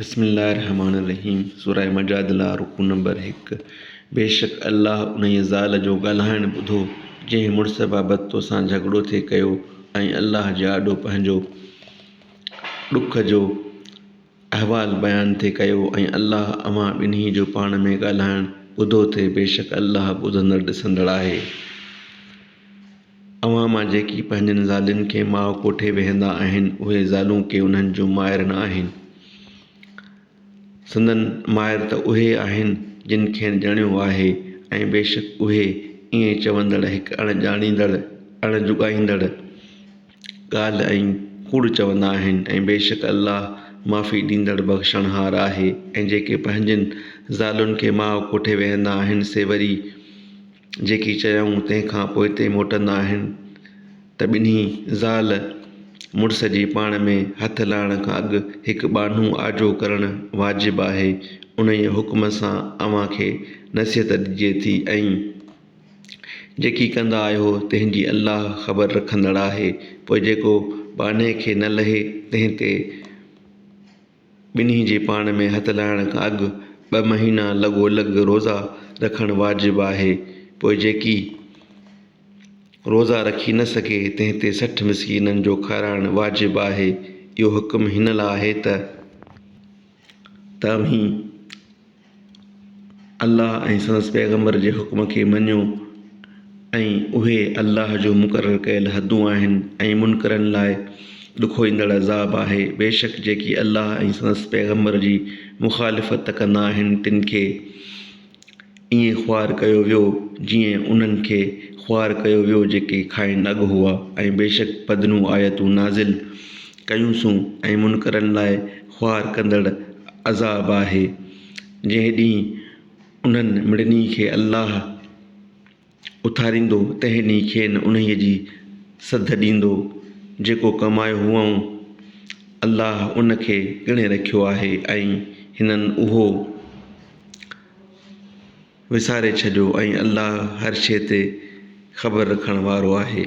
بسم الله الرحمٰن الرحيم سورة مجادله رڪوع نمبر هڪ بيشڪ الله انهيء زال جو ڳالهائڻ ٻڌو، جنهن مڙس بابت توسان جهڳڙو ٿي ڪيو ۽ الله جي آڏو پنهنجو ڏک جو احوال بيان ٿي ڪيو ۽ الله اوهان ٻنهي جو پاڻ ۾ ڳالهائڻ ٻڌو ٿي بيشڪ الله ٻڌندڙ ڏسندڙ آهي. اوهان مان جيڪي پنهنجن زالين کي ماء ڪوٺي ويهندا آهن، اهي زالون ڪي انهن جون مائر نه آهن. سندن مائر ته اهي آهن، جن کين ڄڻيو آهي ۽ بيشڪ اهي، ائين چوندڙ، هڪ اڻ ڄاڻيندڙ، اڻ جڳائيندڙ، ڳالهه ۽ ڪوڙ چوندا آهن ۽ بيشڪ الله معافي ڏيندڙ بخشڻهار آهي ۽ جيڪي پنهنجين زالين کي ماء ڪوٺي ويهندا آهن سي وري جيڪي چيائون تنهن کان پوء هتي موٽندا آهن ته ٻنهي زال مڙس جي پاڻ ۾ هٿ لائڻ کان اڳ هڪ ٻانهو آجو ڪرڻ واجب آهي انهيء حڪم سان اوهان کي نصيحت ڏجي ٿي ۽ جيڪي ڪندا آهيو تنهن جي الله خبر رکندڙ آهي پوء جيڪو ٻانهي کي نه لهي تنهن تي ٻنهي جي پاڻ ۾ هٿ لائڻ کان اڳ ٻه مهينا لڳو لڳ روزا رکڻ واجب آهي، پوء جيڪي روزا رکي نه سگهي تنهن تي سٺ مسڪينن جو کارائڻ واجب آهي، اهو حڪم هن لاء آهي ته توهين. الله ۽ سندس پيغمبر جي حڪم کي مڃو ۽ اهي الله جون مقرر ڪيل حدون آهن ۽ منڪرن لاء ڏکوئيندڙ عذاب آهي بيشڪ جيڪي الله ۽ سندس پيغمبر جي مخالفت ڪندا آهن تن کي ائين خوار ڪيو ويو جيئن انهن کي خوار ڪيو ويو جيڪي کانئن اڳ هئا ۽ بيشڪ پڌريون آيتون نازل ڪيونسون ۽ منڪرن لاء خوار ڪندڙ عذاب آهي، جنهن ڏينهن انهن مڙني کي الله اٿاريندو تنهن ڏينهن کين انهيء جي سڌ ڏيندو، جيڪو ڪمايو هئائون، الله ان کي ڳڻي رکيو آهي ۽ هنن اهو وساري ڇڏيو ۽ الله هر شيء تي خبر رکڻ وارو آهي.